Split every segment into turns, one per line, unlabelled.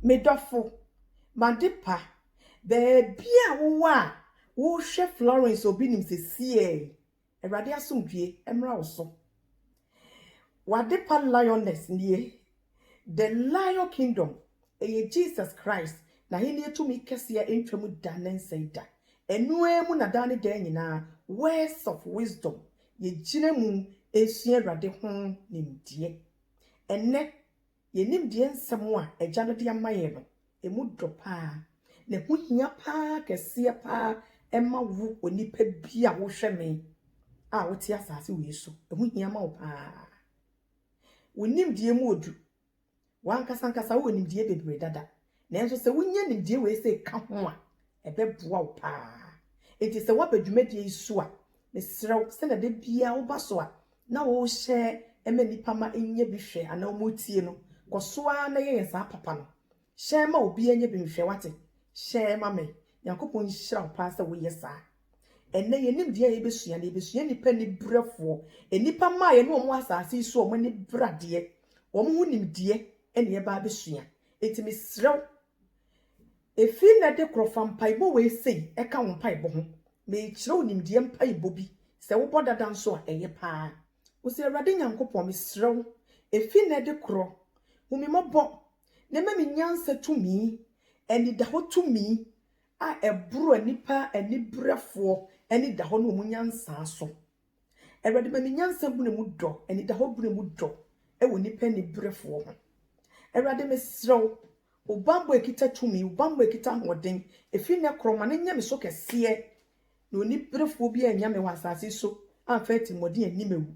Me dɔfo, m'adepa, baabi a wowɔ a worehwɛ Florence Obinim sesie yi, Awurade asomdwoe mmra wo so. W'adepa Lioness nie. The Lion Kingdom, ɛyɛ Jesus Christ n'ahenni tumi kɛseɛ ntwa mu da ne nsɛe da. Ɛno ara mu na daa ne daa nyinaa Words of Wisdom, yɛgyina mu sua Awurade ho nimdeɛ. Ɛnnɛ, Yɛn nimdeɛ nsɛm a Agya no de ama yɛn no, ɛmu dɔ paa, na ɛho hia paa kɛseɛ paa ɛma wo onipa bi a wohwɛ me a wote asase wei so. Ɛho hia ma wo paa. Wo nimdeɛ mu odu. Wankasa ankasa wɔ nimdeɛ bebree dada. Nanso sɛ wunya nimdeɛ wei sɛ ka ho a, ɛbɛboa wo paa. Enti sɛ woaba dwumadie yi so a, mesrɛ wo sɛnea da biara woba so a na worehyɛ ma nnipa ma ɛnya bi hwɛ anaa wɔretie no, kɔ so ara na yɛ yɛn saa papa no. Hyɛ ma obiara nya bi nhwɛ, woate? Hyɛ ma me. Nyankopɔn nhyira wo paa sɛ woyɛ saa. Ɛnnɛ yɛn nimdeɛ a yɛbɛsua no, yɛbɛsua nnipa aniberɛfoɔ, nnipa mmaa yɛne wɔn wɔ asase yi so a wɔn ani bere adeɛ, wɔn ho nimdeɛ na yɛba abɛsua. Enti mesrɛ wo, efi nnɛ de koro fa mpaebɔ wei sei ka wo mpaebɔ ho. Merekyerɛ wo nimdeɛ mpaebɔ bi. Sɛ wobɔ dada nso a, ɛyɛ paa. Wose, Awurade Nyankopɔn, mesrɛ wo, efi nnɛ de koro, hu me mmɔbɔ na ma me nyansa tumi, anidahɔ tumi a ɛboro nnipa aniberefoɔ anidahɔ ne wɔn nyansa so. Awurade ma me nyansa bere mu dɔ, anidahɔ bere mu dɔ wɔ nnipa aniberefoɔ ho. Awurade mesrɛ wo, wo bammɔ a ɛkita tumi, wo bammɔ a ɛkita ahoɔden, ɛfiri nnɛ korɔ ma no nyɛ me so kɛseɛ, na oniberefoɔ biara annya me wɔ asase so amfa atirimuɔden anni me awu,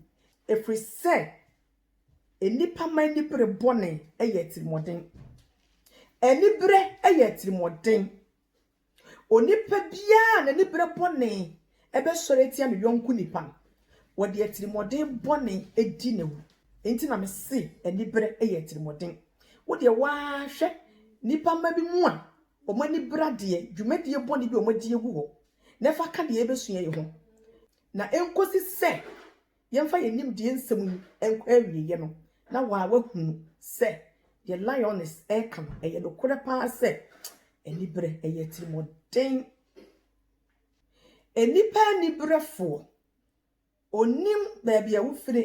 ɛfiri sɛ nnipa mma anibere bɔne yɛ atirimuɔden. Anibere yɛ atirimuɔden. Onipa biara a n'ani bere bɔne bɛsɔre atia ne yɔnko nipa no, wɔde atirimuɔden bɔne di no awu. Enti na mese anibere yɛ atirimuɔden. Wo deɛ wo ara hwɛ nnipa mma bi mu a wɔn ani bere adeɛ, dwumadie bɔne bi a wɔadi agu hɔ, na fa ka deɛ yɛbɛsua yi ho. Na ɛnkɔsi sɛ Yɛmfa yɛn nimdeɛ nsɛm yi nkɔ awieeɛ no, na wo a woahunu sɛ deɛ Lyoness reka no, ɛyɛ nokorɛ paa sɛ aniberɛ yɛ atirimuɔden. Nnipa aniberɛfoɔ, ɔnim baabi a wofire,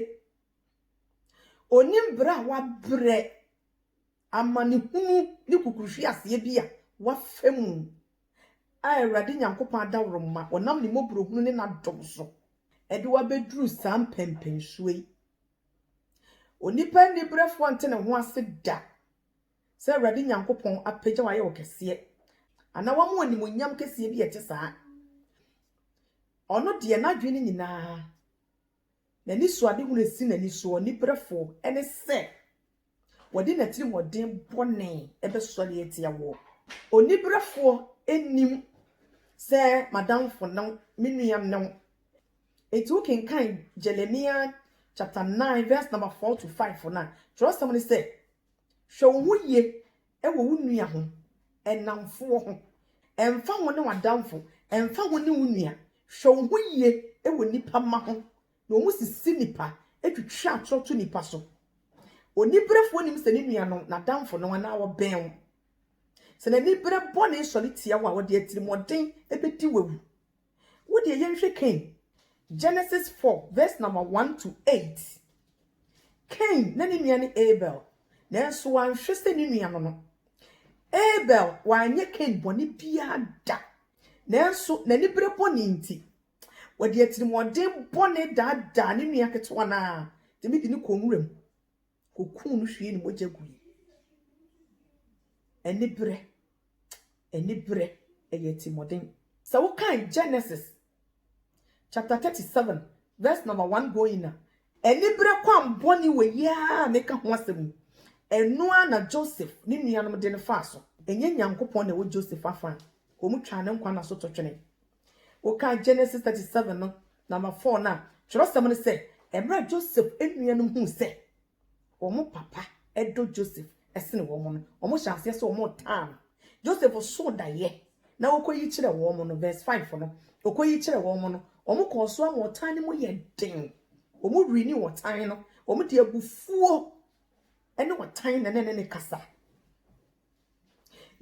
ɔnim berɛ a wabrɛ. Amanehunu ne kukuruhweaseɛ bi a wɔafa mu a Awurade Nyankopɔn adaworoma ɔnam ne mmɔborɔhunu ne n'adom so de wo abɛduru saa mpɛnpɛnsoɔ yi. Onipa aniberɛfoɔ nte ne ho ase da sɛ Awurade Nyankopɔn apagya wo ayɛ wo kɛseɛ anaa wama wo animuonyam kɛseɛ bi a ɛte saa. Ɔno deɛ n'adwene no nyinaa, n'anisoadehunu a ɛsi n'ani soɔ, aniberɛfoɔ, ne sɛ, Wɔde n'atirimuɔden bɔne bɛsɔre atia woɔ. Oniberefoɔ nnim sɛ m'adamfo ne wo, me nua ne wo. Enti wokenkan Jeremia chapter nine verse number four to five no a, twerɛsɛm no sɛ, Hwɛ wo ho yie wɔ wo nua ho, nnamfoɔ ho. Ɛmfa ho ne w'adamfo, ɛmfa ho ne wo nua, hwɛ wo ho yie wɔ nnipa mma ho, Na wɔsisi nnipa twitwa atorɔ to nnipa so. Oniberefoɔ nim sɛ ne nuanom, n'adamfonom anaa wɔbɛn wo. Sɛ n'anibere bɔne sɔre tia wo a, ɔde atirimuɔden bɛdi wo awu. Wo deɛ yɛnhwɛ Kain, Genesis four verse number one to eight. Kain na ne nua ne Abel, nanso wanhwɛ sɛ ne nua no no. Abel wanyɛ Kain bɔne biara da, nanso n'anibere bɔne nti, Wɔde atirimuɔden bɔne daadaa ne nua ketewa no ara tumi de no kɔɔ nwuram kɔkuu no hwiee ne mogya gui. Aniberɛ, aniberɛ, ɛyɛ atirimuɔden. Sɛ wokan Genesis chapter 37 verse number 1 going a, aniberɛ kwammɔne wei ara na ɛka ho asɛm yi. Ɛno ara na Joseph ne nuanom de no faa so. Ɛnyɛ Nyankopɔn na ɛwɔ Joseph afã, wɔtwaa ne nkwa nna so totwene. Wokan Genesis thirty seven no, number four no a, twerɛsɛm no sɛ, mmerɛ Joseph nuanom huu sɛ wɔn papa dɔ Joseph sene wɔn no, wɔn hyɛ aseɛ sɛ wɔn taa no. Joseph soo daeɛ na ɔkɔyi kyerɛ wɔn no, verse five no, ɔkɔyi kyerɛ wɔn no, wɔn kɔɔ so ama ɔtan no mu yɛ den. Wɔn wiri ne ɔtan no, wɔn de abufuo ne ɔtan na ne ne kasa.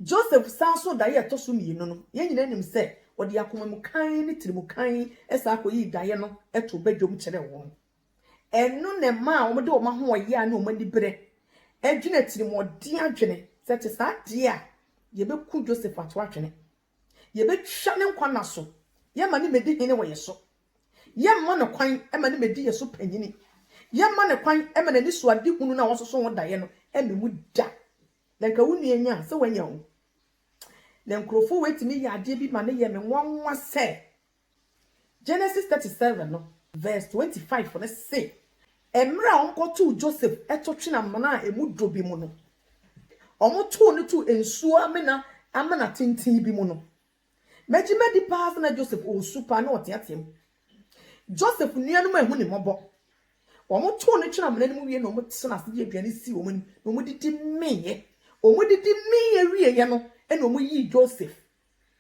Joseph san nso daeɛ a ɛtɔ so mmienu no, yɛn nyinaa nim sɛ ɔde akoma mu kann ne tiri mu kann san kɔyii daeɛ no too badwam kyerɛɛ wɔn. Ɛno na ɛmaa wɔde wɔn ahoɔyea ne wɔn aniberɛ dwene atirimuɔden adwene sɛ ɛte saa deɛ a, yɛbɛku Joseph ato atwene. Yɛbɛtwa ne nkwa nna so, yɛma ne mmɛdi hene wɔ yɛ so. Yɛmma no kwan ma ne mmɛdi yɛ so panyini. Yɛmma no kwan ma n'anisoadehunu no a wɔsoso ho daeɛ no mmɛ mu da. Na nka wo nua nya sɛ wanya o. Na nkurɔfoɔ wei tumi yɛ adeɛ bi ma no yɛ me nwanwa sɛ, Genesis thirty seven no verse twenty five no se, Mmerɛ a wɔkɔtoo Joseph to twene amena a emu dɔ bi mu no, wɔtoo no too nsuo amena amena tenten bi mu no, megye madi paa sɛ na Joseph ɔresu paa na ɔteateam. Joseph nuanom anhu ne mmɔbɔ. Wɔtoo no twene amena no mu wie na wɔtena ase de aduane sii wɔn anim na wɔdidi meeɛ. Wɔdidi meeɛ wieeɛ no na wɔyii Joseph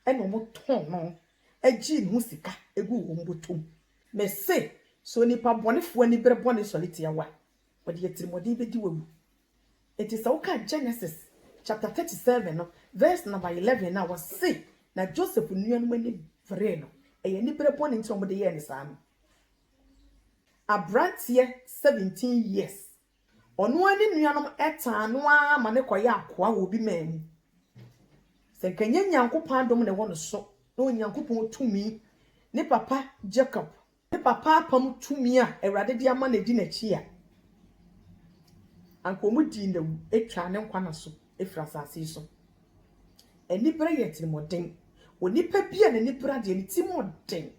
ɛna wɔtɔn no gyee ne ho sika guu wɔn bɔtɔ mu. Mese, sɛ onipa bɔnefoɔ ani bere bɔne sɔre tia wo a, ɔde atirimuɔden bɛdi wo awu. Enti sɛ woka Genesis chapter 37 no verse number 11 no a wɔse na Joseph nuanom ani beree no, ɛyɛ anibere bɔne nti na wɔde yɛɛ no saa no. Abranteɛ 17 years Ɔno ara ne nuanom tan no ara ma no kɔyɛ akoa wɔ obi man mu. Sɛ anka ɛnyɛ Nyankopɔn adom na ɛwɔ no so, na Onyankopɔn tumi, ne papa Jacob, ne papa apam tumi a Awurade de ama no di n'akyi a, anka wɔdii no awu twaa ne nkwa nna so. firi asase yi so. Anibere yɛ atirimɔden. Onipa bi a n'anibere deɛ, ne tirim yɛ den.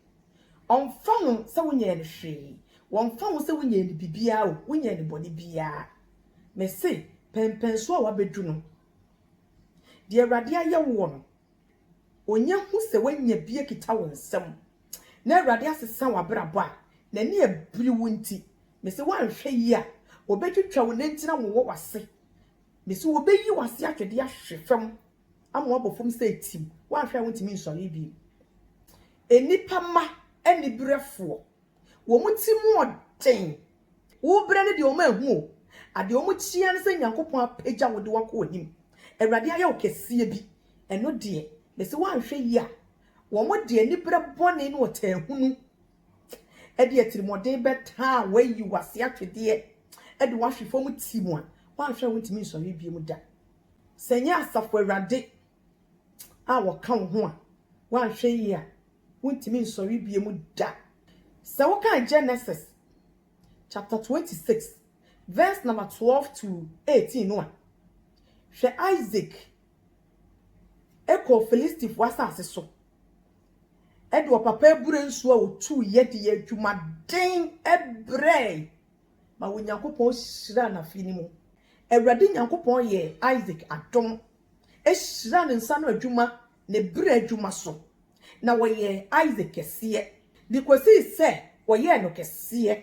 Wɔmfa ho sɛ wonyɛɛ no hwee, wɔmfa ho sɛ wonyɛɛ no biribiara o, wonyɛɛ no bɔne biara, mese pɛnpɛn so a wabɛdu no, deɛ Awurade ayɛ woɔ no, ɔnya hu sɛ woanya bi akita wo nsam na Awurade asesa w'abrabɔ a, n'ani abiri wo nti, mese woanhwɛ yie a, ɔbɛtwitwa wo nantin awowɔ w'ase. Mese wɔbɛyi wo ase atwede ahwe fam ama woabɔ fam sɛ tim, woanhwɛ a wontumi nsɔre bio. Nnipa mma aniberɛfoɔ, wɔn ti mu ɔden, wobrɛ no deɛ wɔn ahu o, adeɛ wɔn kyia ne sɛ Nyankopɔn apagya wo de wo akɔ anim, Awurade ayɛ wo kɛseɛ bi, ɛno deɛ mese woanhwɛ yie a wɔn de aniberɛ bɔne ne ɔtaahunu de atirimuɔden bɛtaa a wɔayi wo ase atwedeɛ de wo ahwe fam ti mu a, woanhwɛ a wontumi nsɔre bio da. Sɛ ɛnyɛ Asafo Awurade a wɔka wo ho a, woanhwɛ yie a, wontumi nsɔre bio da. Sɛ wokan Genesis chapter 26 verse number 12 to 18 no a, hwɛ Isaac kɔɔ Filistifoɔ asase so. de ɔpapa abura nsuo a ɔtuu yɛ de yɛɛ adwumaden brɛɛe ma Onyankopɔn hyiraa n'afie no mu. Awurade Nyankopɔn yɛɛ Isak adom, hyiraa ne nsa ano adwuma, ne berɛ adwuma so, na wɔyɛɛ Isak kɛseɛ, de kɔsii sɛ wɔyɛɛ no kɛseɛ,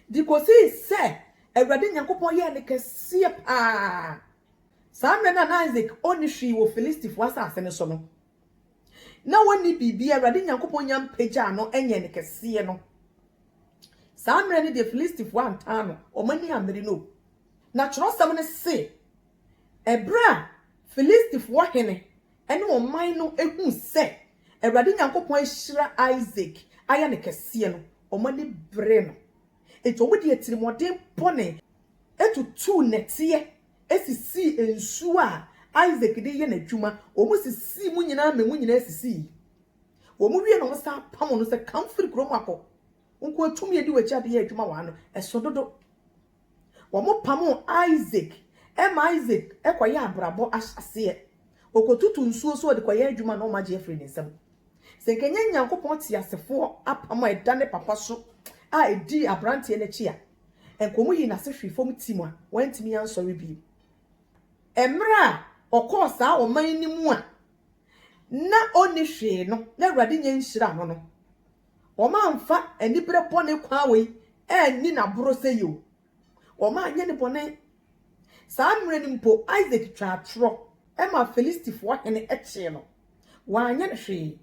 de kɔsii sɛ Awurade Nyankopɔn yɛɛ no kɛseɛ paa. Saa mmerɛ no a na Isak ɔnni hwee wɔ Filistifoɔ asase no so no, na wɔnni biribiara, Awurade Nyankopɔn nya mpagyaa no nyɛɛ no kɛseɛ no, saa mmerɛ no deɛ Filistifoɔ antaa no, wɔn ani ammere no o. Na twerɛsɛm no se, ɛberɛ a Filistifoɔ hene ne ɔman no huu sɛ Awurade Nyankopɔn ahyira Isak ayɛ no kɛseɛ no, wɔn ani beree no, enti wɔde atirimuɔden bɔne tutuu nnɛteɛ sisii nsuo a Isak de yɛ n'adwuma, wɔn sisii mu nyinaa ma emu nyinaa sisii. Wɔn wie no wɔn san pamo no sɛ kan firi kuro mu akɔ, wo nkoa tumi edi w'akyi ade yɛ adwuma wɔ ha no ɛso dodo. Wɔn pamo Isak ma Isak kɔ yɛ abrabɔ ahyɛaseɛ, ɔkɔ tutu nsuo so ɔde kɔ yɛ adwuma na wɔn agye afiri ne nsam. Sɛ nka ɛnyɛ Nyankopɔn teasefoɔ apam a ɛda ne papa so a ɛdii abranteɛ no akyi a, Anka wɔyii n'ase hwee fam tim a wantumi ansɔre bio. Mmerɛ a ɔkɔɔ saa ɔman no mu a na ɔnni hwee no na Awurade nyɛ nhyira no no, wɔamfa aniberɛ bɔne kwan wei anni no aboro sɛ yeo. Wɔanyɛ no bɔne. Saa mmerɛ no mpo Isak twaa torɔ maa Filistifoɔ hene kyee no. Wanyɛ no hwee.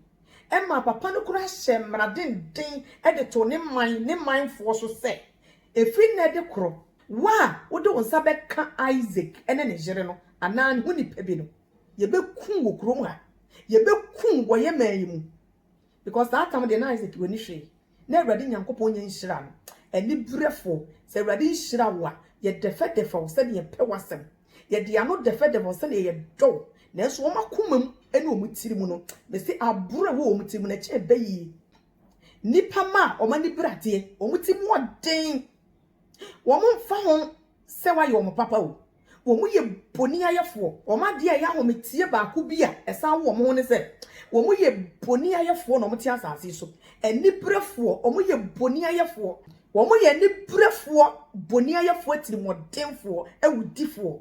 Ɛmaa papa no koraa hyɛɛ mmara denden de too ne man ne manfoɔ so sɛ, Ɛfiri nnɛ de korɔ, wo a wode wo nsa bɛka Isak ne ne yere no anaa ne ho nipa bi no, yɛbɛkum wo kurom ha. Yɛbɛkum wo wɔ yɛn man yi mu. Because saa tam deɛ na ayɛ sɛ w'ani hwee na awurade nyankopɔn nyɛ nhyira no anibrɛfoɔ sɛ awurade nhyira wo a yɛ dɛfɛdɛfɛ wo sɛdeɛ yɛ pɛ w'asɛm yɛ de ano dɛfɛdɛfɛ wo sɛdeɛ yɛ dɔ wo nanso wɔn akoma mu ɛne wɔn tiri mu no me se aboro ɛwɔ wɔn tiri mu no ɛkyɛn bɛ yie nipa ma a wɔn ani bradeɛ wɔn ti mu ɔden wɔn mfa ho sɛ wayɛ wɔn papa o. wɔyɛ boniayɛfoɔ. Wɔn adeɛ a ɛyɛ ahometeɛ baako bi a ɛsan wo wɔn ho ne sɛ, wɔyɛ boniayɛfoɔ na wɔte asase so. Aniberefoɔ, wɔyɛ boniayɛfoɔ. Wɔyɛ aniberefoɔ, boniayɛfoɔ, atirimuɔdenfoɔ, awudifoɔ.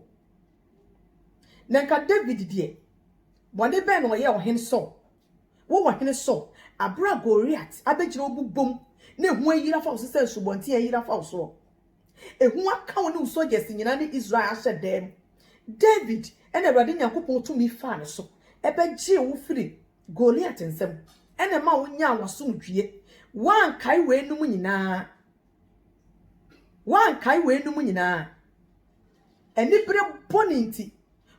Na nka David deɛ, bɔne bɛn na ɔyɛ ɔhene Saul? Wo ɔhene Saul, abere a Goliat abɛgyina wo bobom na ehu ayiri afa wo so sɛ nsubɔnten ayiri afa wo soɔ. Ehu aka wo ne wo soldiers nyinaa ne Israel ahyɛ dɛm. David na Awurade Nyankopɔn tumi faa ne so bɛgyee wo firi Goliat nsam na ɛmaa wo nyaa w'asomdwie. Woankae weinom nyinaa. Woankae weinom nyinaa. Anibere bɔne nti,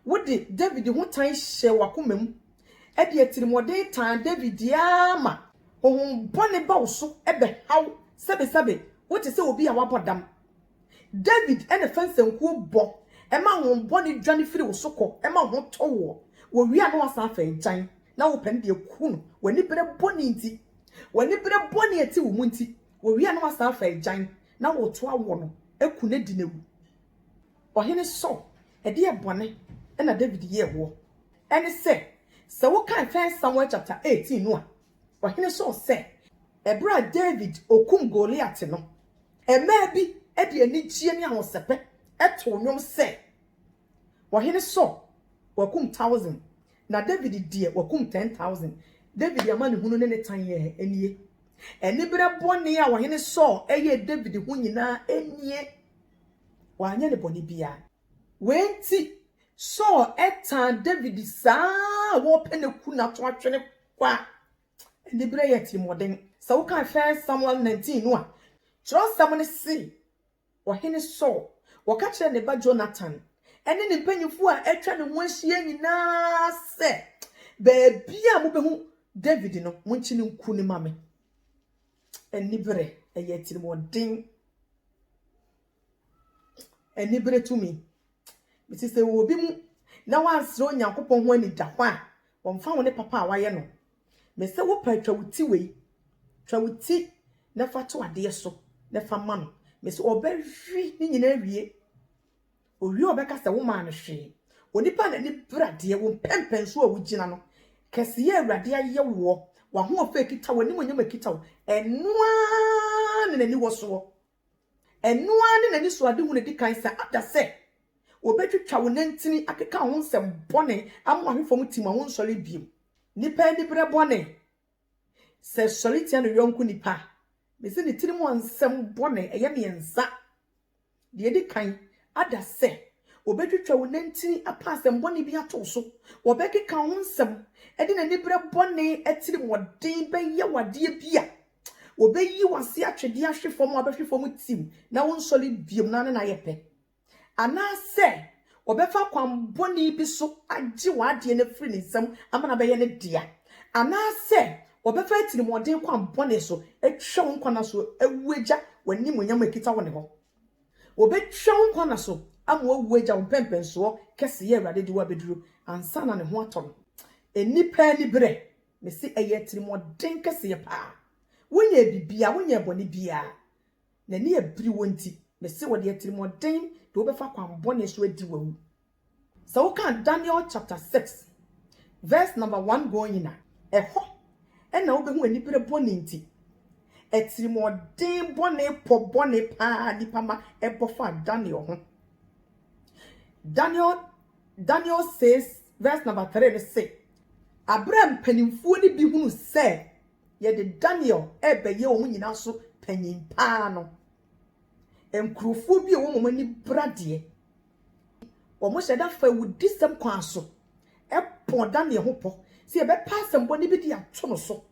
wode Dawid ho tan hyɛɛ w'akoma mu, de atirimɔden tan Dawid ara ma. Honhom bɔne ba wo so bɛha wo sɛbesɛbe, wote sɛ obi a wabɔ dam. Dawid na fa nsankuo bɔ ma honhom bɔne dwane firi wo so kɔ ma wo ho tɔ woɔ. Wɔwie a na woasan afa agyan na worepɛ no de aku no w'anibere bɔne nti. W'anibere bɔne a ɛte wo mu nti, wɔwie a na woasan afa agyan Na wɔto awoɔ no, ku no di no awu. Ɔhene Saul, ɛdeɛn bɔne na Dawid yɛɛ woɔ? Ɛne sɛ, sɛ wokan First Samuel chapter eighteen no a, Ɔhene Saul sɛ, ɛberɛ a Dawid ɔkum Goliat no, mmaa bi de anigyeɛ ne ahosɛpɛ too nnwom sɛ. Ɔhene Saul, wɔakum thousand, na David deɛ, wɔakum ten thousand. David amanehunu ne ne tan yɛɛ nie. Aniberɛ bɔne a Ɔhene Saul yɛɛ David ho nyinaa nie. Wanyɛ no bɔne biara. Wei nti, Saul tan David saa a wɔrepɛ no aku no ato atwene kɔ a aniberɛ yɛ atirimuɔden. Sɛ wokan First Samuel nineteen no a, twerɛsɛm no se, Ɔhene Saul, wɔka kyerɛɛ ne ba Jonathan ne ne mpanyimfo a atwa ne ho ahyia nyinaa sɛ, Baabiara a mubehu Dawid no, munkyi no nku no mma me. Anibere yɛ atirimɔden. Anibere tumi Mese sɛ ɛwɔ obi mu na wansrɛ Onyankopɔn ho anigya hɔ a, wɔmfa wo ne papa a wayɛ no. Mese wo pɛ twa wo ti wei, twa wo ti na fa to adeɛ so na fa ma no. Mese ɔbɛhwe ne nyina awie. Owie ɔbɛka sɛ wo maa no hwee. Onipa na ni bra deɛ wo mpɛmpɛn so a wogyina no. Kɛseyɛ Awurade ayɛ woɔ. W'ahoɔfɛ kita wo, animonyam kita wo. Ɛno ara ne n'aniwɔ soɔ. Ɛno ara ne n'anisoadehu no di kan sɛ ada sɛ wobetwitwa wo nantin, akeka wo ho nsɛm bɔne, ama wahwe fam tim a wonsɔre bio. Nnipa anibere bɔne, Sɛ sɔre tia ne yɔnko nipa a, mise ne tirim a nsɛm bɔne, ɛyɛ mmiɛnsa. Deɛ edi kan, ada sɛ wobetwitwa wo nantin, apa asɛmmɔne bi ato wo so, wɔbɛkeka wo ho nsɛm, de n'anibere bɔne atirimɔden bɛyɛ wo adeɛ bi a, Wɔbɛyi wo ase atwe de ahwe fam a wobɛhwe fam tiw na wonsɔre bio na ne na ayɛ pɛ. Anaasɛ wɔbɛfa kwammɔne bi so agye w'adeɛ no afiri ne nsam ama no abɛyɛ ne dea. Anaasɛ wɔbɛfa atirimuɔden kwan bɔne so atwa wo nkwa nna so awu agya w'animuonyam a ɛkita wo ne hɔ. Wɔbɛtwa wo nkwa nna so ama woawu agya wo mpɛnpɛnsoɔ kɛseyɛ a Awurade de wo abɛduru ansa na ne ho atɔ no. Nnipa aniberɛ Mese ɛyɛ atirimuɔden kɛseɛ paa. Wonyɛɛ biribiara, wonyɛɛ bɔne biara. N'ani abiri wo nti, mese wɔde atirimuɔden de wo bɛfa kwan bɔne so adi wo awu. Sɛ woka Daniel chapter six verse number one going a, ɛhɔ na wobɛhu anibere bɔne nti. Atirimuɔden bɔne pɔ bɔne paa a nnipa ma ɛbɔ faa Daniel ho. Daniel Daniel six vs number three no se, Bere a mpanimfoɔ no bi hunuu sɛ yɛde Daniel rebɛyɛ wɔn nyinaa so panyin paa no, nkurofoɔ bi a wɔn wɔn ani bra deɛ wɔn hyɛ da fa awudisɛm kwan so pɔɔ Daniel ho pɔ sɛ yɛbɛpɛ asɛmmɔne bi de ato no so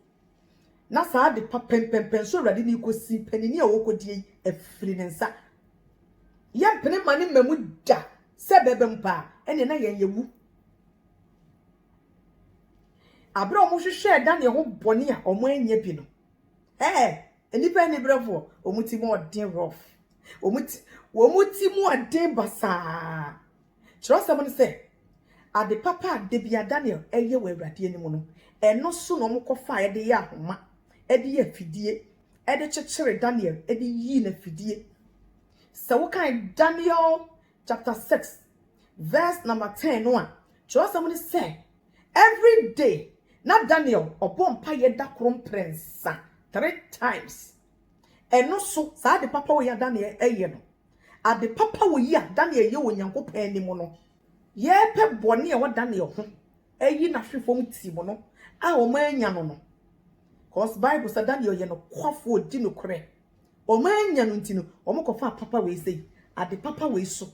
Na saa ade pa pɛnpɛnpɛn so Awurade no rekosi mpanini a wɔrekodie yi afiri ne nsa. Yɛmpene mma ne mmamu da, sɛ ɛbɛba mu paa, ɛneɛ na yɛn yɛwu. Aberɛ a wɔhwehwɛɛ Daniel ho bɔne a wɔannya bi no, ɛɛ, nnipa aniberɛfoɔ, wɔn ti mu ɔden rough, wɔn ti mu ɔden basaa. Kyerɛwsɛm no sɛ, Ade papa a da biara Daniel yɛ wɔ Awurade anim no, ɛno so na wɔkɔfae de yɛɛ ahoma, de yɛɛ afidie de kyekyeree Daniel de yii no afidie. Sɛ wokan Daniel chapter six verse number ten no a, kyerɛwsɛm no sɛ, Every day, na Daniel ɔbɔ mpaeɛ da koro mprɛnsa, three times. Ɛno so, saa ade papa wei a Daniel yɛ no, Ade papa wɔ yi a Daniel yɛ wɔ Onyankopɔn anim no, yɛpɛ bɔne a ɛwɔ Daniel ho ayi no ahwe fam tim no a wɔannya no no. Cause Bible sɛ Daniel yɛ nokwafo, odi nokorɛ. Wɔannya no nti no, wɔkɔfaa papa wei sei, ade papa wei so.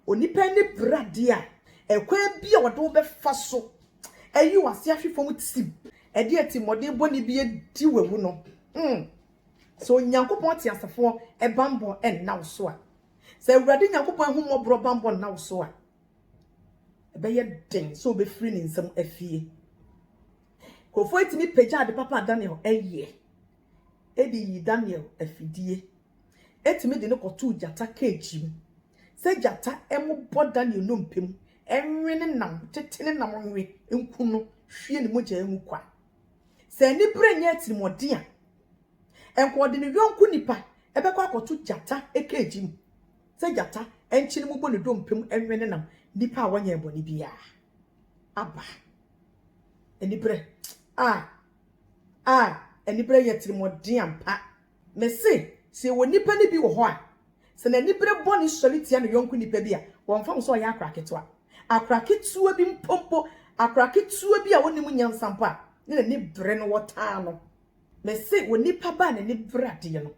Onipa ani bere adeɛ a, ɛkwan bi a wɔde wobɛfa so ayi w'ase ahwe fam tim, ɛde atimmɔden bɔne bi adi w'awu no. Mm. Sɛ Onyankopɔn teasefoɔ banbɔ nna wo so a, sɛ Awurade Nyankopɔn ahummɔborɔ banbɔ nna wo so a, ɛbɛyɛ den sɛ wobɛfiri ne nsam afie. Nkurɔfoɔ atumi pagya ade papa a Daniel yɛ de yi Daniel afidie, atumi de no kɔtoo gyata keegi mu, sɛ gyata mmobɔ Daniel nnompe mu, nwe ne nam, tete ne nam nwe, nku no, hwie ne mogya ngu kwa. Sɛ anibere nyɛ atirimuɔden a, ɛnka ɔde ne yɔnko nipa bɛkɔ akɔto gyata keegi mu, sɛ gyata nkyene mu bɔ ne dompe mu nwe ne nam, nipa a wɔnyɛɛ bɔne biara. Aba. Anibere. Ah! Ah! Anibere yɛ atirimuɔden ampa. Mese, sɛ yɛwɔ nnipa no bi wɔ hɔ a, sɛ n'anibere bɔne sɔre tia ne yɔnko nnipa bi a, wɔmfa ho sɛ ɔyɛ akora ketewa, akora ketewa bi mpo mpo, akora ketewa bi a ɔnnim nyansa mpo a, ne n'ani bere no, wɔtaa no. Mese, wɔ nnipa ba a n'ani bere adeɛ no,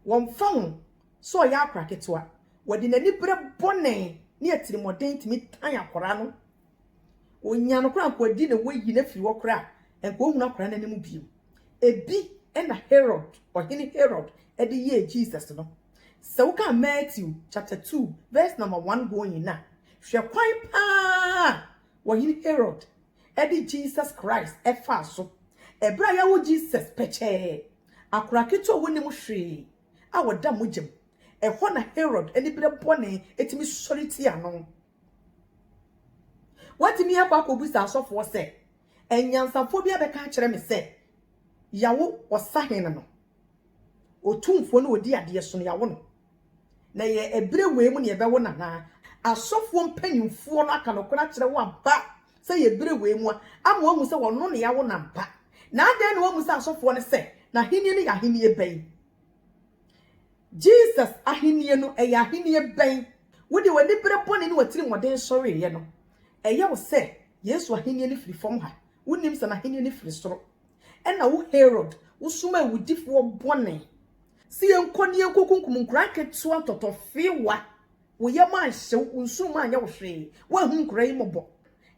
wɔmfa ho sɛ ɔyɛ akora ketewa, wɔde n'anibere bɔne ne atirimmɔden tumi tan akora no. Onya no koraa anka ɔdi ne wayi no afiri hɔ koraa anka ɔhunu akwadaa no anim bio. Ɛbi na Herod, ɔhene Herod de yɛɛ Jesus no. Sɛ wokan Matthew chapter 2 verse number 1 going na, hwɛ kwan paa a ɔhene Herod de Jesus Christ faa so. Ɛberɛ a yɛawo Jesus pɛkyɛɛ, akwadaa ketewa a ɔnim hwee a ɔda mogya mu, ɛhɔ na Herod aniberɛ bɔne tumi sɔre tia no. Woatumi akɔ akɔbisa asɔfoɔ sɛ, Anyansafoɔ bi abɛka akyerɛ me sɛ yɛawo ɔsahene no, otumfoɔ ne ɔdi adeɛ so no, yɛawo no. Na ɛyɛ ɛberɛ wei mu na yɛbɛwo no anaa? Asɔfoɔ mpanimfoɔ no aka nokorɛ akyerɛ wo ampa sɛ ɛyɛ ɛberɛ wei mu a, ama woahu sɛ ɔno na yɛawo no ampa? Na adɛn na woammisa asɔfoɔ no sɛ, N'ahennie no yɛ ahennie bɛn? Jesus Ahenni no, ɛyɛ ahenni bɛn? Wode w'anibere bɔne ne w'atirimɔden sɔreeɛ no, ɛyɛ wo sɛ Yesu Ahenni no firi fam ha. Wonnim sɛ N'Ahenni no firi soro. Ɛnna wo Herod, wosoma awudifoɔ bɔne sɛ yɛnkɔ na yɛnkɔkunkum nkwadaa nketewa ntɔtɔfewa. Wo yam anhye wo, wo nsuom anyɛ wo hwee, woanhunu nkwadaa yi mmɔbɔ,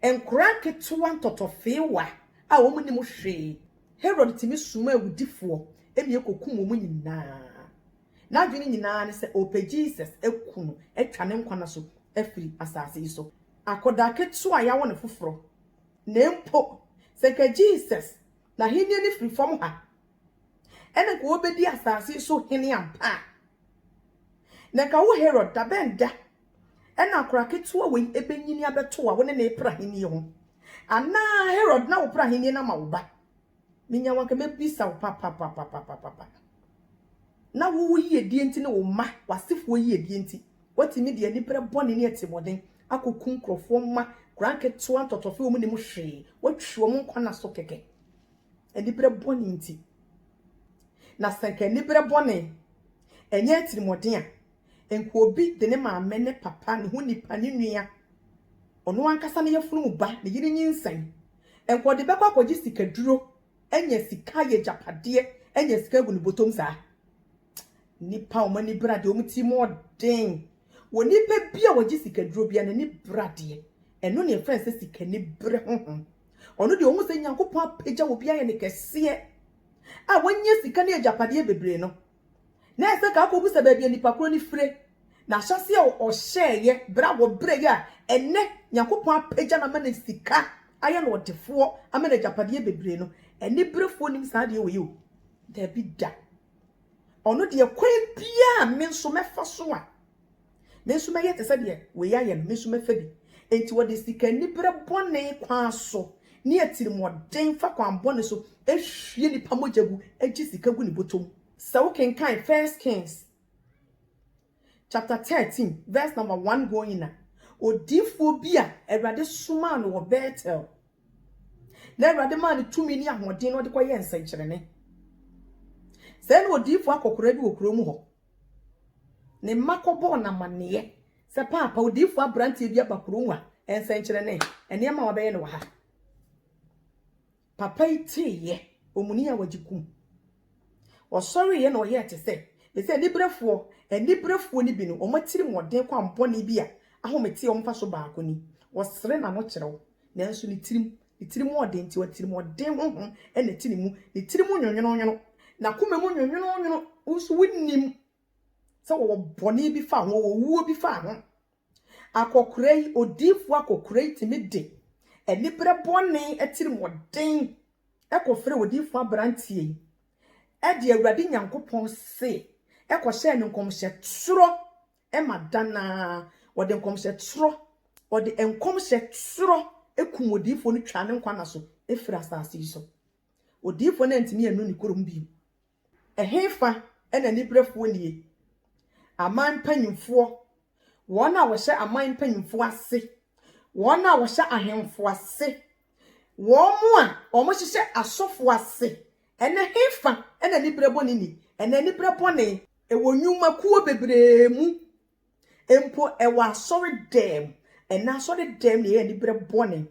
nkwadaa nketewa ntɔtɔfewa a wɔnnim hwee. Herod tumi somaa awudifoɔ ma ɛkɔkum wɔn nyinaa. N'adwene nyinaa ne sɛ ɔpɛ Jesus aku no atwa ne nkwa nna so afiri asase yi so. Akɔdaa ketewa a yɛawo no foforɔ. Na mpo sɛ nka Jesus n'ahennie no firi fam ha ɛna nka ɔbɛdi asase yi so hene ampa a, na nka wo Herod dabɛn da na akwadaa ketewa wei bɛnyini abɛto a wo ne no repere ahennie ho? Anaa Herod na wopere ahennie no ama wo ba? Menya wo anka mɛbisa wo papapapapapa. Na wo wo yiedie nti ne wo mma w'asefoɔ yiedie nti woatumi de anipere bɔne ne atirimuɔden akɔku nkurɔfoɔ mma koraa nketewa ntɔtɔfe wɔn nim hwee woatwi wɔn nkwa na so kɛkɛ anipere bɔne nti. Na sɛ nka anipere bɔne ɛnyɛ atirimuɔden a Nka obi de ne maame, ne papa, ne ho nipa, ne nua, ɔno ankasa ne yafunu mu ba, ne yere nyinsɛn, nka ɔde bɛkɔ akɔgye sikaduro, anya sika ayɛ agyapadeɛ, anya sika agu ne bɔtɔm saa. Nnipa a wɔn ani bra deɛ, wɔn tirim yɛ den. Onipa bi a ɔgye sikaduro biara, n'ani bra deɛ, ɛno na yɛfrɛ no sɛ sikaniberɛ honhom. Ɔno deɛ, ɔhu sɛ Nyankopɔn apagya obi ayɛ no kɛseɛ, a wanya sika ne agyapadeɛ bebree no, na ɛsɛ ka akɔbisa baabi a nipa korɔ no fire, na ahyɛseɛ a ɔhyɛɛeɛ berɛ a wɔbrɛeɛ a ɛnnɛ Nyankopɔn apagya no ama no sika ayɛ no ɔdefoɔ ama no agyapadeɛ bebree no, aniberefoɔ nim saa adeɛ wei yi o, daabi da. Ɔno deɛ kwan biara a me nso mɛfa so a Me nso mɛyɛ te sɛ deɛ wei ayɛ no, me nso mɛfa bi. Enti wɔde sika-aniberɛ bɔne kwan so ne atirimuɔden fa kwan bɔne so hwie nnipa mogya gu, gye sika gu ne bɔtɔ mu. Sɛ wokenkan First Kings chapter thirteen verse number one going a, odiyifoɔ bi a Awurade somaa no wɔ Bethel, na Awurade maa no tumi ne ahoɔden na ɔde kɔyɛɛ nsɛnkyerɛnne. Sɛɛ na odiyifoɔ akɔkoraa bi wɔ kuro mu hɔ. Ne mma kɔbɔɔ no amanneɛ sɛ, Paapa, odiyifo aberanteɛ bi aba kurow mu a nsɛnkyerɛnne, nneɛma a wɔabɛyɛ no wɔ ha. Papa yi teeɛ, omuni a wɔagye kum. Ɔsɔreeɛ na ɔyɛɛ te sɛ me sɛ aniberefoɔ. Aniberefoɔ no bi no, wɔn atirimuɔden kwammɔne bi a ahometeɛ wɔ mu mfaso baako ni, wɔsere n'anokyerɛw, nanso ne tirim Ne tirim ɔden nti, atirimuɔden honhom na ɛte ne mu. Ne tirim nwonwononwono, n'akoma mu nwonwononwono. Wo nso wonnim sɛ wɔwɔ bɔne bi fa ho, wɔwɔ owuo bi fa ho. Akɔkora yi, odiyifoɔ akɔkora yi tumi de aniberɛ bɔne atirimuɔden kɔfrɛɛ odiyifoɔ aberanteɛ yi de Awurade Nyankopɔn se kɔhyɛɛ no nkɔmhyɛ torɔ ma da no ara wɔde nkɔmhyɛ torɔ, wɔde nkɔmhyɛ torɔ kum odiyifoɔ no twaa ne nkwa nna so firii asase yi so. Odiyifoɔ no antumi annu ne kurom bio. Ɛhefa na aniberefoɔ nnie? Aman mpanimfoɔ, wɔn a wɔhyɛ aman mpanimfoɔ ase, wɔn a wɔhyɛ ahemfo ase Wɔn a wɔhyehyɛ asɔfo ase no, hefa na anibere bɔne ni? Ɛnna anibere bɔne wɔ nnwumakuo bebree mu, mpo wɔ asɔredɛm. Ɛnna asɔredɛm na ɛyɛ anibere bɔne.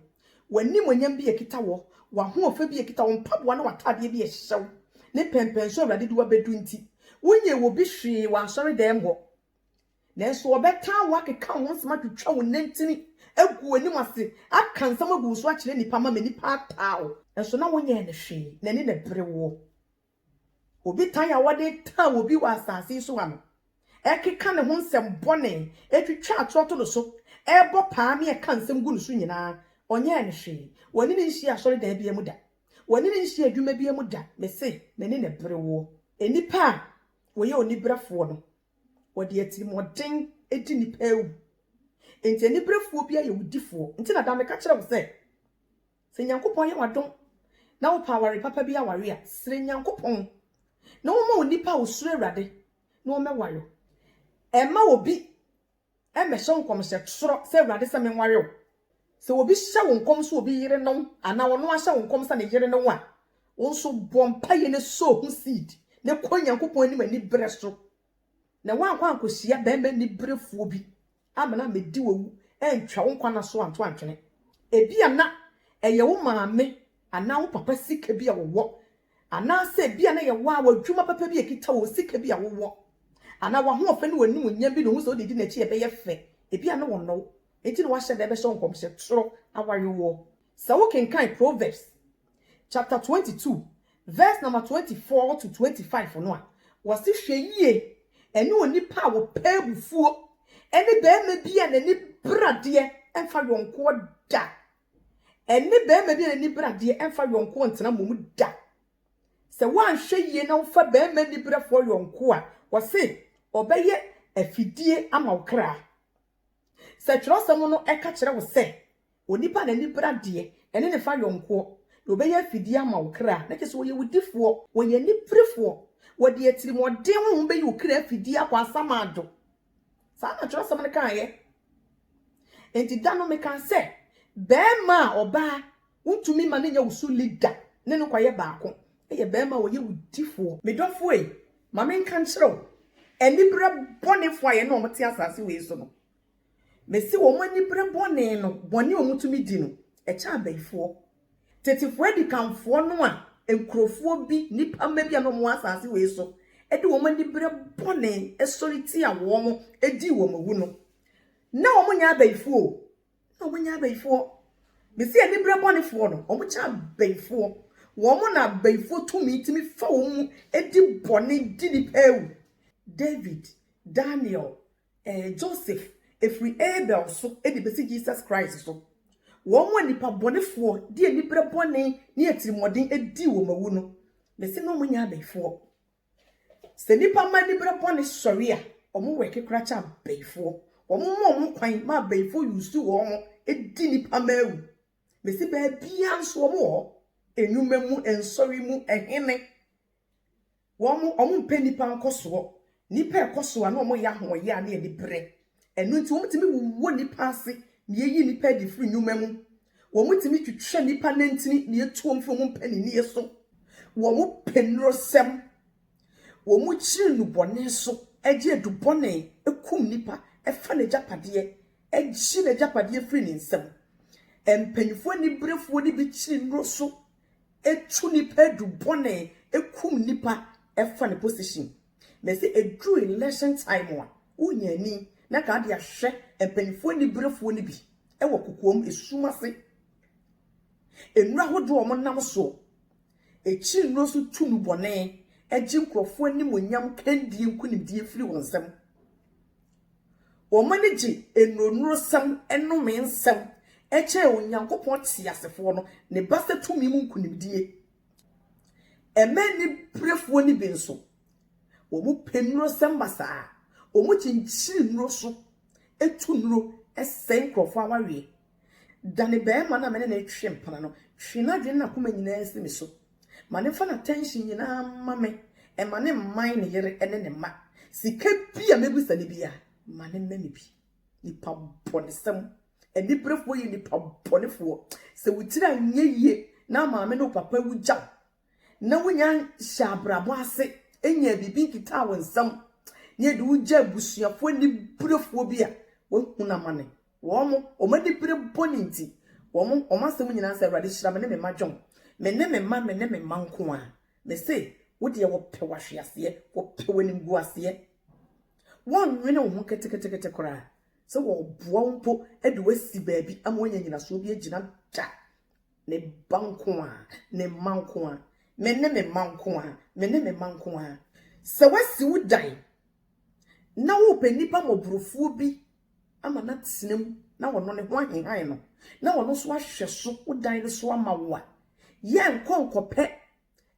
W'animuonyam bi a ɛkita wɔ, w'ahoɔfɛ bi a ɛkita wo, mpaboa ne w'atadeɛ bi a ɛhyehyɛ wo, ne pɛmpɛnsoɔ a Awurade de wo abɛdu nti, wonyɛ obi hwee wɔ asɔredɛm hɔ. Nanso wɔbɛtaa wo akeka wo ho nsɛm atwitwa wo nantin agu w'anim ase aka nsɛm agu wo so akyerɛ nnipa ama nnipa ataa wo. Nanso na wonyɛɛ no hwee, n'ani na ɛbere woɔ. Obi tan a wɔde taa obi wɔ asase yi so ha no, ɛkeka ne ho nsɛm bɔne, twitwa atorɔ to no so, bɔ paa ne ɛka nsɛm gu no so nyinaa, ɔnyɛɛ no hwee. W'ani renhyia asɔredan biara mu da. W'ani renhyia adwuma biara mu da. Mese, n'ani na ɛbere woɔ. Nnipa a wɔyɛ oniberefoɔ no, Wɔde atirimuɔden di nnipa awu. Enti aniberefoɔ biara yɛ owudifoɔ. Nti na daa meka kyerɛ wo sɛ, sɛ Nyankopɔn ayɛ wo adom na wopɛ aware papa bi aware a, srɛ Nyankopɔn na ɔmma onipa a ɔsuro Awurade na ɔmmɛware wo. Ɛmma obi Ɛmmɛhyɛ wo nkɔm sɛ, Srɔ sɛ Awurade sɛ menware wo. Sɛ obi hyɛ wo nkɔm sɛ obi yere ne wo anaa ɔno ara hyɛ wo nkɔm sɛ ne yere ne wo a, wo nso bɔ mpaeɛ na sow ho seed na kɔ Nyankopɔn anim aniberɛ so. Na woankɔ ankɔhyia barima aniberefoɔ bi ammena ammɛdi w'awu antwa wo nkwa nna so anto antwene. Ebia na ɛyɛ wo maame anaa wo papa sika bi a wɔwɔ Anaasɛ ebia na yɛwɔ ara w'adwuma papa bi a ɛkita wo, sika bi a wowɔ, anaa w'ahoɔfɛ ne w'animuonyam bi na wohu sɛ wode di n'akyi a ɛbɛyɛ fɛ. Ebia na wɔnnɔ wo, enti na woahyɛ da rebɛhyɛ wo nkɔmhyɛ toro awarewoɔ. Sɛ wokenkan Proverbs chapter 22 vs. Nama 24-25 no a, wɔse, Hwɛ yie, ɛne onipa a ɔpɛ abufuo, ne barima bi a n'ani bere adeɛ mfa yɔnkoɔ da Ɛne barima bi a n'ani bere adeɛ mfa yɔnkoɔ ntena mmom da. Sɛ woanhwɛ yie na wofa barima aniberefoɔ yɔnko a, wɔse ɔbɛyɛ afidie ama wo kra. Sɛ twerɛsɛm no ɛka kyerɛ wo sɛ onipa a n'ani bere adeɛ ɛne ne fa yɔnkoɔ na ɔbɛyɛ afidie ama wo kra a, na kyerɛ sɛ ɔyɛ wo difoɔ, ɔyɛ aniberefoɔ. Wɔde atirimuɔden honhom bɛyi wo kra afidie akɔ asamando. Saa na twerɛsɛm no kaeɛ. Enti da no mekaa sɛ, Barima a ɔbaa wontumi ma no nyɛ wo so leader ne no kɔyɛ baako, ɛyɛ barima a ɔyɛ wo difoɔ. Me dɔfoɔ ei, ma menka nkyerɛ wo aniberɛ bɔnefoɔ a yɛne wɔn te asase wei so no. Mese wɔn aniberɛ bɔne no, bɔne a wɔtumi di no, ɛkyɛ abayifoɔ. Tetefoɔ adikanfoɔ no a nkurofoɔ bi, nnipa mma bi a na wɔn wɔ asaase wei so de wɔn aniberɛ bɔne sɔre tia wɔn dii wɔn awu no, na wɔn nyɛ abayifoɔ o, na wɔn nyɛ abayifoɔ. Mese aniberɛ bɔnefoɔ no, wɔn kyɛ abayifoɔ. Wɔn na abayifoɔ tumi tumi fa wɔn mu di bɔne di nnipa awu. David, Daniel, Ɛɛ Joseph, ɛfiri Abel so de bɛsi Jesus Christ so, wɔn a nnipa bɔnefoɔ de aniberɛ bɔne ne atirimuɔden dii wɔn awu no, mese na wɔnyɛ abayifoɔ. Sɛ nnipa ma aniberɛ bɔne sɔre a, wɔn wɛke koraa kyɛ abayifoɔ. Wɔn ma wɔn kwan ma abayifoɔ yusu wɔn ho di nnipa ma awu. Mese baabiara nso wɔn wɔ hɔ, nnwuma mu, nsɔre mu, ɛhene, Wɔn, wɔmpɛ nnipa nkɔsoɔ, nnipa a ɛkɔ so a na wɔyɛ ahoɔyea ne aniberɛ, ɛno nti wɔtumi wowɔ nnipa ase na yɛyi nnipa adi firi nnwuma mu, wɔtumi twitwa nnipa nantin na yɛtu wɔn firi wɔn mpaninnie so, wɔpɛ nnurosɛm, wɔkyiri nnubɔne so, gye adubɔne, kum nnipa, fa n'agyapadeɛ, gye n'agyapadeɛ firi ne nsam. Mpanimfoɔ aniberefoɔ no bi kyiri nnuro so etu nipa edu bɔne ekum nipa ɛfa ne position na sɛ eduru election time a wonya ani na kaa de ahwɛ mpanyinfoɔ aniberefoɔ no bi ɛwɔ kokoam esum ase nnuro ahodoɔ a wɔn nam soɔ ekyi nnuro so tu nu bɔne ɛgye nkorɔfoɔ animonyam kandie nkunimdie firi wɔn nsam Wɔn ani gye nnuronnurusɛm, nnome nsɛm, kyɛn Onyankopɔn teasefoɔ no, ne basa tumi mu nkonimdie. Ɛmɛ aniberefoɔ no bi nso, wɔpɛ nnurusɛm ma saa. Wɔkyinkyin nnuro so, tu nnuro sɛe nkurɔfoɔ awareɛ. Da ne barima no a me ne no retwe mpena no, twe n'adwene ne n'akoma nyinaa si me so. Ma no mfa n'attention nyinaa mma me. Mma no mman ne yere ne ne mma. Sika bi a mɛbisa no biara, ma no mma me bi. Nnipa bɔnesɛm, aniberefoɔ yɛ nnipa bɔnefoɔ. Sɛ wo tiri anyɛ yie na maame ne wo papa awu gya wo, na wunya hyɛ abrabɔ ase nyaa biribi nketaa wo nsam, na ɛde wogyaa abusuafoɔ aniberefoɔ bi a wɔahunu amane. Wɔn, wɔn anibere bɔne nti, wɔn, wɔn asɛm nyinaa sɛ, Awurade hyira me ne me mma John. Me ne me mma, me ne me mma nko ara. Mese, wo deɛ wɔpɛ w'ahweaseɛ, wɔpɛ w'animguaseɛ. Wɔnnwene wo ho ketekete koraa sɛ wɔreboa wo mpo de wo asi baabi ama woanya nyinasoɔ bi agyina da. Me ba nko ara, me mma nko ara, me ne me mma nko ara, me ne me mma nko ara. Sɛ woasi wo dan na worepɛ nipa mmɔborofoɔ bi ama no atena mu na ɔno ne ho ahehan no na ɔno nso ahwɛ so wo dan no so ama wo a, yɛ nkɔ nkɔpɛ,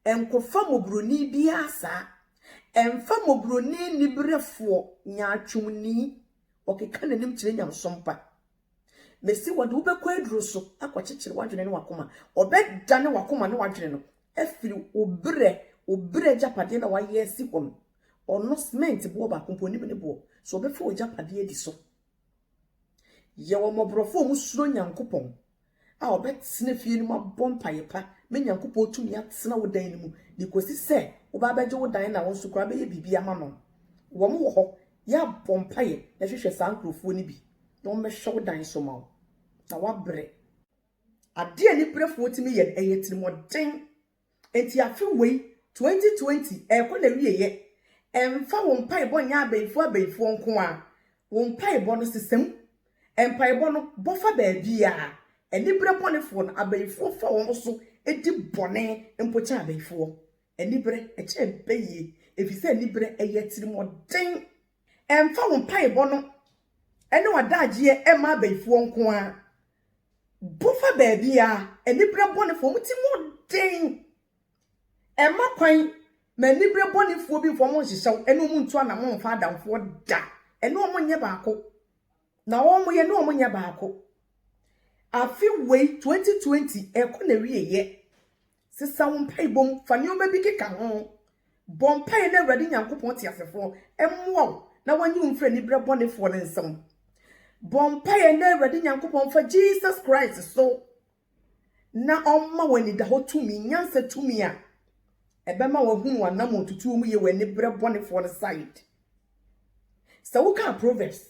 nkɔfa mmɔborɔni biara saa. Ɛmfa mmɔborɔni nniberɛfoɔ, nyaatwomni, ɔkeka n'anim kyerɛ nyamesompa. Mese wɔde wo bɛkɔ aduro so akɔkyekyere w'adwene ne w'akoma. Wɔbɛdane w'akoma ne w'adwene no afiri wo berɛ, wo berɛ agyapadeɛ na wayɛ asi hɔ no. Ɔno cement boɔ baako mpo onim ne boɔ. So wɔbɛfa w'agyapadeɛ adi so? Yɛ wɔn mmɔborɔfoɔ a wɔsuro Nyankopɔn a ɔbɛtena fie no mu abɔ mpaeɛ pa ma Nyankopɔn tumi atena wo dan no mu de kɔsi sɛ woba abɛgye wo dan na wo nso koraa bɛyɛ biribi ama no. Wɔn wɔ hɔ, yɛ abɔ mpaeɛ na hwehwɛ saa nkorɔfoɔ no bi na wɔn bɛhwɛ wo dan so ma wo na woabrɛ. Adeɛ a aniberefoɔ tumi yɛ no, ɛyɛ atirimuɔden Enti afe wei, 2020, ɛrekɔ n'awieɛ. Ɛmfa wo mpaebɔ nyɛ abayifoɔ abayifoɔ nko ara. Wo mpaebɔ no, sesa mu. Mpaebɔ no, bɔ fa baabiara. Aniberɛ bɔnefoɔ no, abayifoɔ fa wɔn so di bɔne mpo kyɛ abayifoɔ. Aniberɛ, ɛkyɛn pɛ yie, ɛfiri sɛ aniberɛ, ɛyɛ atirimuɔden. Ɛmfa wo mpaebɔ no ne w'adagyeɛ mma abayifoɔ nko ara. Bɔ fa baabiara, aniberɛ bɔnefoɔ, wɔn ti mu den. Mma kwan ma aniberɛ bɔnefoɔ bi mfa wɔn nhyehyɛ wo, ɛne wɔn ntu anamɔ mfa adamfoɔ da, ɛne wɔn nyɛ baako, na wɔn yɛ ne wɔn nyɛ baako. Afe wei, 2020, ɛrekɔ n'awieeɛ, Sesa wo mpaebɔ mu fa nneɛma bi keka ho. Bɔ mpaeɛ na Awurade Nyankopɔn teasefoɔ mmoa wo na wɔnyi wo mfiri aniberɛ bɔnefoɔ no nsam. Bɔ mpaeɛ na Awurade Nyankopɔn mfa Jesus Christ so na ɔmma wo anidahɔ tumi, nyansa tumi a ɛbɛma wahunu w'anamɔn tutuo mu yɛ wɔ aniberɛ bɔnefoɔ no side. Sɛ wokaa Proverbs